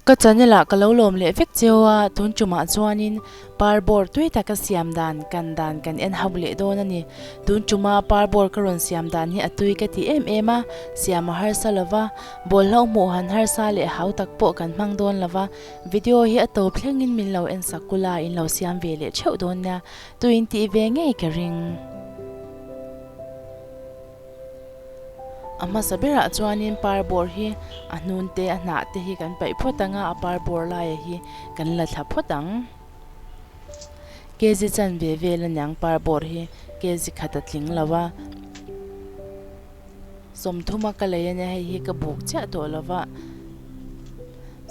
Ka channel ah ka lo lawm leh vek cio a, tun ṭum ah chuanin par bawr tui taka siam dan kan dan kan en hau leh dawn a ni. Tun ṭum a par bawr ka rawn siam dan hi a tui ka ti em em a, siam a harsa lo va, bawlhhlauh hmuh han harsa leh hau tak pawh kan hmang dawn lo va, Video hi a to thlengin min lo en sak kul a, in lo siam ve leh theuh dawn nia, tu in tih ve ngei ka ring. A hmasa berah chuanin par bawr hi a hnun te a hnah te hi kan paih phawt ang a, a par bawr laia hi kan la thla phawt ang. Kezi chan ve vel a niang par bawr hi, kezi khat a tling lo a. sawmthum a ka lei ania hei hi ka buk chiah tawh lo va,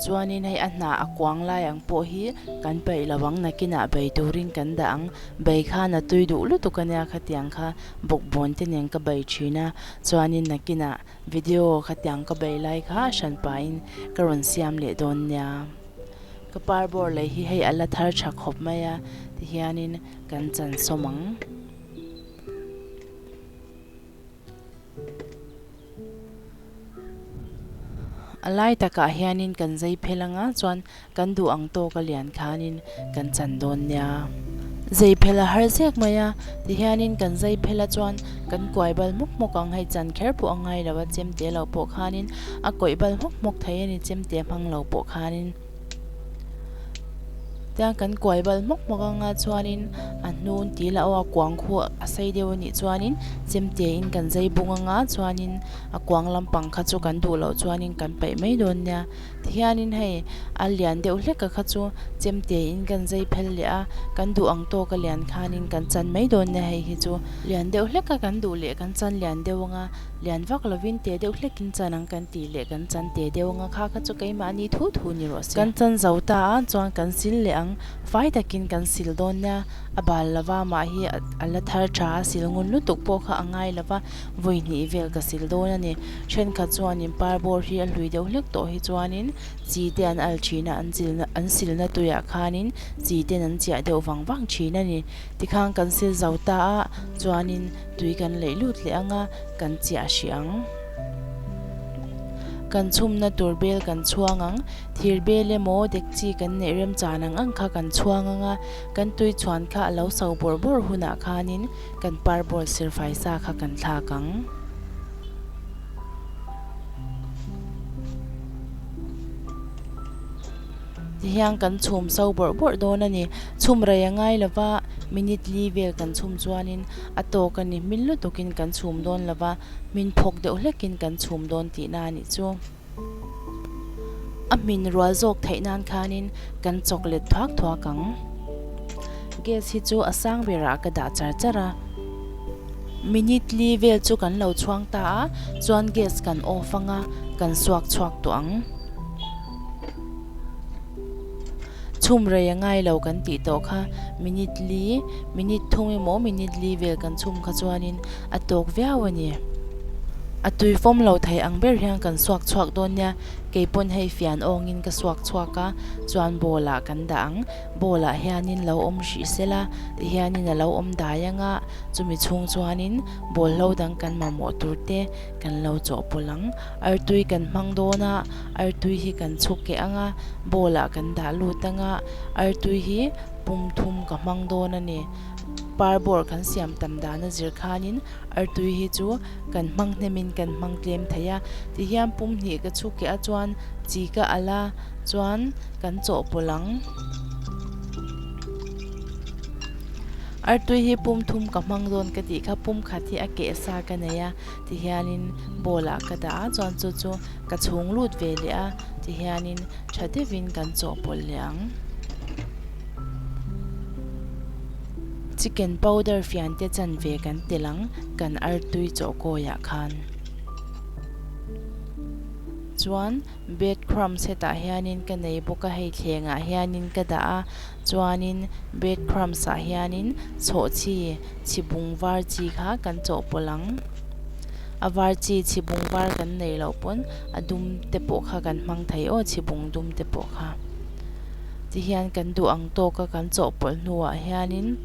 chuanin hei a hna a kuang lai ang pawh hi kan paih lo ang nakinah bei turin kan dah ang, bei khan a tui duh lutuk ania khatiang kha bawkbawn te nen ka bei thin a, chuanin nakinah video khatiang ka bei lai kha a hran pahin ka rawn siam leh dawn nia, ka par bawr lei hi hei a la thar tha khawp mai a tihianin kan chansawm ang. A lai takah hianin kan zei phel anga chuan kan duh ang tawk a lian khanin kan chan dawn nia. Zei phel a har zek mai a, tihianin kan zei phel a chuan kan kuai bal hmawk hmawk ang, hei chan kher pawh a ngai lo a, chemte lo pawh khanin a kawih bal hmawk hmawk thei a ni, chemte hmang lo pawh khanin. Tiang kan kuai bal hmawk hmawk anga chuanin a hnun tih la aw a kuang khu a sei deuh anih chuanin chemtia in kan zai bung anga chuanin a kuang lampang kha chu kan duh loh chuanin kan paih mai dawn nia tihianin hei a lian deuh hlek a kha chu chemtia in kan zai phel leh a kan duh ang tawk alian khanin kan chan mai dawn nia hei hi chu lian deuh hlek a kan duh leh kan chan lian deuh anga. lian vak lovin te deuh hlekin chan ang kan tih leh kan chan te deuh anga kha kha chu keimahni thu thu ni rawh se. Kan chan zo ta ang chuan kan sil leh ang, fai takin kan sil dawn nia, a bal lova mah hi a la thar tha a, sil ngun lutuk pawh kha a ngai lova, vawi hnih vel ka sil dawn a ni. Thenkhat chuanin par bawr hi a hlui deuh hlek tawh hi chuanin chi te an al thin a, an zilna an silna tuiah khanin chi ten an chiah deuh vang vang thin a ni. Tikhan kan sil zo ta ah chuanin. Tui kan leih lut leh anga kan chiah hrih ang. Kan chhumna tur bel kan chhuang ang. Thir bel emaw dekchi kan neih remchan ang ang kha kan chhuang anga kan tui chhuan kha a lo sau bawrh bawrh hunah khanin kan parbawl silfai sa kha kan thlak ang. Tihian kan chhum so bawrh bawrh dawn a ni. Chhum rei a ngai lo va, minute li vel kan chhum chuanin a tawk a ni. Hming lutukin kan chhum dawn lo va, hmin phawk deuh hlekin kan chhum dawn tihna a nih chu. A hmin rual zawk theih nan khanin kan chawk let thuak thuak ang. Gas hi chu a sang berah ka dah char char a. Minute li vel chu kan lo chhuang ta a, chuan gas kan off anga kan suak chhuak tawh ang. Chhum rei a ngai lo kan tih tawh kha minute li, minute thum emaw minute li vel kan chhum kha chuanin a tawk viau a ni. A tui fawm lo thei ang ber hian kan suak chhuak dawn nia, keipawn hei fian awngin ka suak chhuak a, chuan bawlah kan dah ang, bawlah hianin lo awm hrih se la ti hianin a lo awm dai ang a, chumi chhung chuanin ball hlo dang kan mamawh tur te kan lo chawhpawlh ang. Artui kan hmang dawn a, artui hi kan chhuk keh ang a, bowl ah kan dah lut ang a, artui hi pum thum ka hmang dawn a ni. Par bawr kan siam tam dan a zir khan in artui hi chu kan hmang hnem in kan hmang tlem thei a. Ti hian pum hnih ka chhuk keh a chuan chi ka alh a, chuan kan chaw pawlh ang. Artui hi pum thum ka hmang dawn ka tih kha pum khat hi a keh sa ka nei a, ti hianin bowl ah ka dah a chuan chu chu ka chhung lut ve leh a ti hianin tha deuhin kan chawh pawlh leh ang chicken powder fian te chan ve kan telh ang kan artui chawhkawih ah khan chuan. Breadcrumbs hetah hianin ka nei bawk a, hei thlengah hianin ka dah a, chuanin breadcrumbs ah hianin chhawh chi, chhibung var chi kha kan chawh pawlh ang. A var chi, chhibung var kan nei loh pawn a dum te pawh kha kan hmang thei aw, chhibung dum te pawh kha. Tihian kan duh ang tawk a, kan chawh pawlh hnuah hianin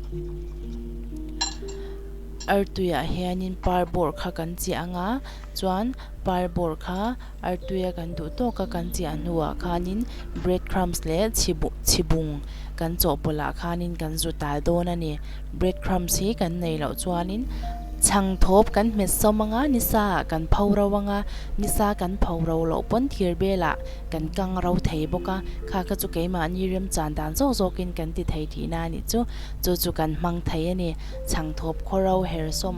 artuiah hianin par bawr kha kan chiah ang a, chuan par bawr kha Artuia kan duh tawk a kan chiah hnuah khanin bread crumbs leh chhibung kan chawhpawlhah khanin kan zu tal dawn a ni. Bread crumbs hi kan nei loh chuanin chhang thawp kan hmet sawm anga nisa ah kan pho ro anga nisa kan pho ro loh pawn thir belah kan kang ro thei bawk a, kha kha chu keimahni remchan dan zawk zawkin kan ti thei tihna a nih chu, chu chu kan hmang thei a ni. Chhang thawp khaw ro her sawm.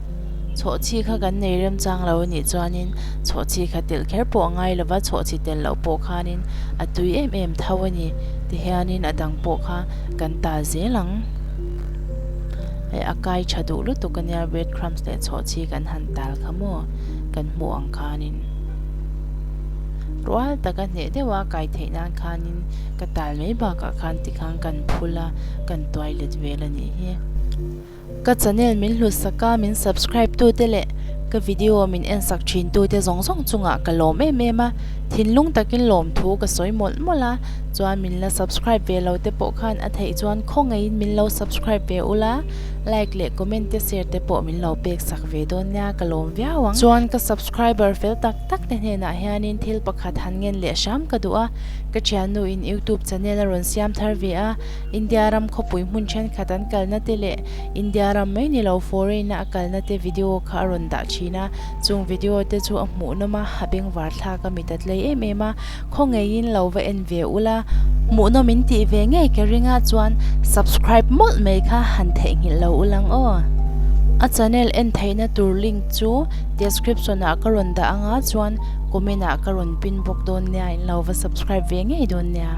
Chhawhchhi kha kan nei remchang lo anih chuanin chhawhchhi kha telh kher pawh a ngai lova, chhawhchhi tel loh pawh khanin a tui em em tho a ni tihianin a dang pawh kha kan ta zel ang. Hei a kai tha duh lutuk a nia bread crumbs leh chhawhchhi kan han tal kha maw kan hmuh ang khanin rual tak a hneh deuh a, kai theih nan khanin ka tal mai bakah khan tikhang kan phul a, kan tuai let ve la nih hi. Ka channel min hlusak a, min subscribe tu te leh ka video min en sak thin tu te zawng zawng chungah ka lawm em em a, thinlung takin lawm thu ka sawi mawlh mawlh a, chuan min la subscribe ve lo te pawh khan a theih chuan khawngaihin min lo subscribe ve ula, like leh comment te share te pawh min lo pek sak ve dawn nia, ka lawm viau ang. Chuan ka subscriber fel tak tak te hnenah hianin thil pakhat han ngen leh hram ka duh a, ka thiannu in youtube channel a rawn siam thar ve a, India ram khawpui hmun thenkhat an kalna te leh India ram mai ni lo foreign-a a kalna te video kha a rawn dah thin a, chung video te chu a hmuh nawm a, a bengvar thlak a mit a tlei em em a, khawngeiin lo va en ve ulh a, hmuh nawm in tih ve ngei ka ringa chuan subscribe mawlh mai kha han theihnghilh lo ulh ang aw. A channel en theihna tur link chu description ah ka rawn dah anga chuan comment ah ka rawn pin bawk dawn nia in lo va subscribe ve ngei dawn nia.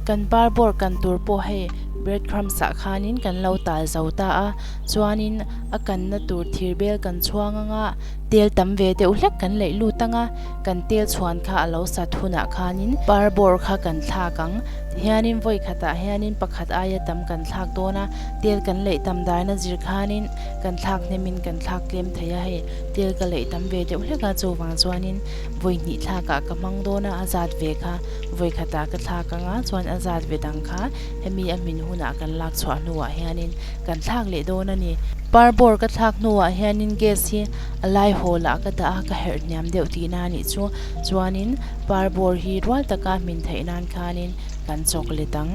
Kan par bawr kan tur pawh hei breadcrumbs ah khanin kan lo tal zo ta a, chuanin a kanna tur thir bel kan chhuang ang a, tel tam ve deuh hlek kan laih lut ang a, kan tel chhuan kha a lo sat hunah khanin par bawr kha kan thlak ang, tihianin vawi khatah hianin pakhat aia tam kan thlak dawn a, tel kan laih tam darna zir khanin kan thlak hnem in kan thlak tlem thei a, hei tel ka laih tam ve deuh hlek a chuvang chuanin. Vawi hnih thlak ah ka hmang dawn a, a zat ve kha. Vawi khat ah ka thlak ang a, chuan a zat ve dang kha hemi a hmin hun ah kan lak chhuah hnu ah hian in kan thlak leh dawn a ni. Par bawr ka thlak hnu ah hian in gas hi a lai hawl ah ka dah a, ka herh hniam deuh ti na nih chu, chuan in par bawr hi rual tak a hmin theih nan khan in kan chawk let ang.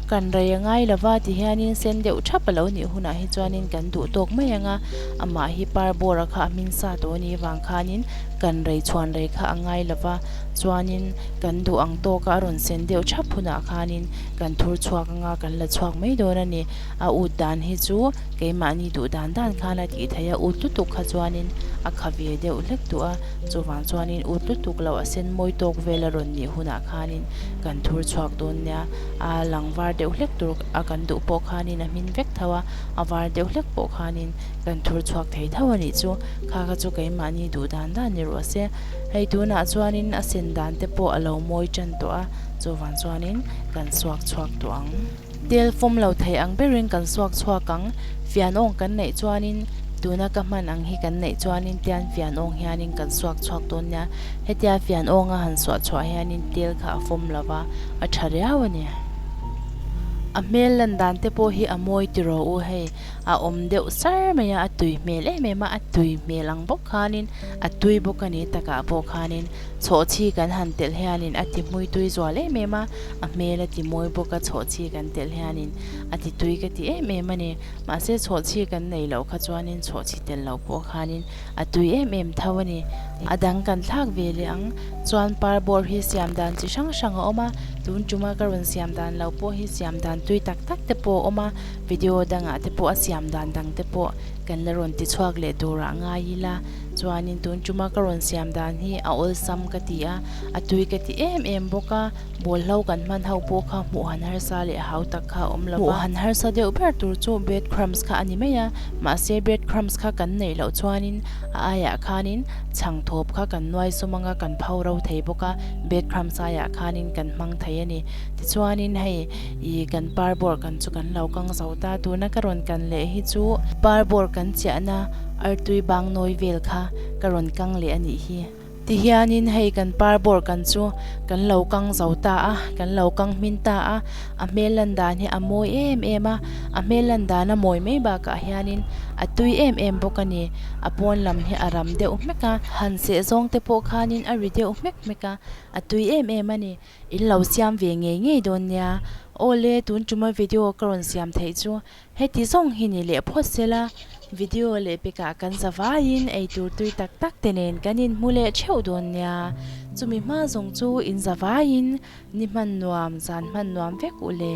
Kan rei a ngai lo va ti hian in sen deuh thap a lo nih hun ah hi chuan in kan duh tawk mai ang a. amah hi par bawra kha a hming sa tawh ni avang khanin kan rei chhuan rei kha a ngai lo va, chuanin kan duh ang tawk a, a rawn sen deuh thap hunah khanin kan thur chhuak anga kan la chhuak mai dawn a ni. A ut dan hi chu keimahni duh dan dan khan a tih theih a, ut lutuk kha chuanin a kha ve deuh hlek duh a, chuvang chuanin ut lutuk lo a sen mawi tawk vel a rawn nih hunah khanin kan thur chhuak dawn nia, a lang var deuh hlek tur a kan duh pawh khanin a hmin vek tho a. a var deuh hlek pawh khanin kan thur chhuak thei tho a nih chu, kha kha chu keimahni duh dan dan ni rawh se, hei tunah chuanin a sen dan te pawh a lo mawi tan tawh a, chuvang chuanin kan suak chhuak tawh ang. Tel fawm lo thei ang berin kan suak chhuak ang, fian awng kan neih chuanin tuna ka hman ang hi kan neih chuanin tian fian awng hianin kan suak chhuak dawn nia, hetia fian awnga han suah chhuah hianin tel kha a fawm lova, a tha riau a ni. A hmel lan dan te pawh hi a mawi ti rawh u hei, a awm deuh sar mai a, a tui hmel em em a, a tui hmel ang bawk khanin a tui bawk a ni takah pawh khanin chhawhchhi kan han telh hianin a ti hmui tui zual em em a, a hmel a ti mawi bawk a, chhawhchhi kan telh hianin a ti tui ka ti em em a ni, mahse chhawhchhi kan nei loh kha chuanin chhawhchhi tel loh pawh khanin. a tui em em tho a ni. A dang kan thlak ve leh ang chuan par bawr hi siam dan chi hrang hrang a awm a, tun tuma ka rawn siam dan lo pawh hi siam dan tui tak tak te pawh a awm a, video dangah te pawh a siam dan dang te pawh kan la rawn ti chhuak leh turah a ngai ila, chuanin tun tuma ka rawn siam dan hi a awlsam ka ti a, a tui ka ti em em bawk a. Bawl hlau kan hman ho pawh kha hmuh han harsa leh hau tak kha a awm lo va, hmuh han harsa deuh ber tur chu breadcrumbs kha a ni mai a, mahse breadcrumbs kha kan neih loh chuanin a aiah khanin chhang thawp kha kan nuai sawm anga kan pho ro thei bawk a, breadcrumbs aiah khanin kan hmang thei a ni. Tichuanin hei ih kan par bawr kan chu kan lo kang zo ta, tuna ka rawn kan leh hi chu par bawr kan chiahna artui bangnawi vel kha ka rawn kang leh a nih hi. Ti hianin hei kan par bawr kan chu kan lo kang zo ta a, kan lo kang hmin ta a, a hmel lan dan hi a mawi em em a, a hmel lan dan a mawi mai bakah hianin a tui em em bawk a ni, a pawn lam hi a ram deuh hmek a, han seh zawng te pawh khanin a ri deuh hmek hmek a, a tui em em a ni, in lo siam ve ngei ngei dawn nia, awle tun tuma video ka rawn siam theih chu Heti zawng hi ni leh phawt sela video leh pekah kan za vaiin eitur tui tak tak te nen kan inhmu leh theuh dawn nia, chumi hma zawng chu in za vaiin ni hman nuam zan hman nuam vek u le.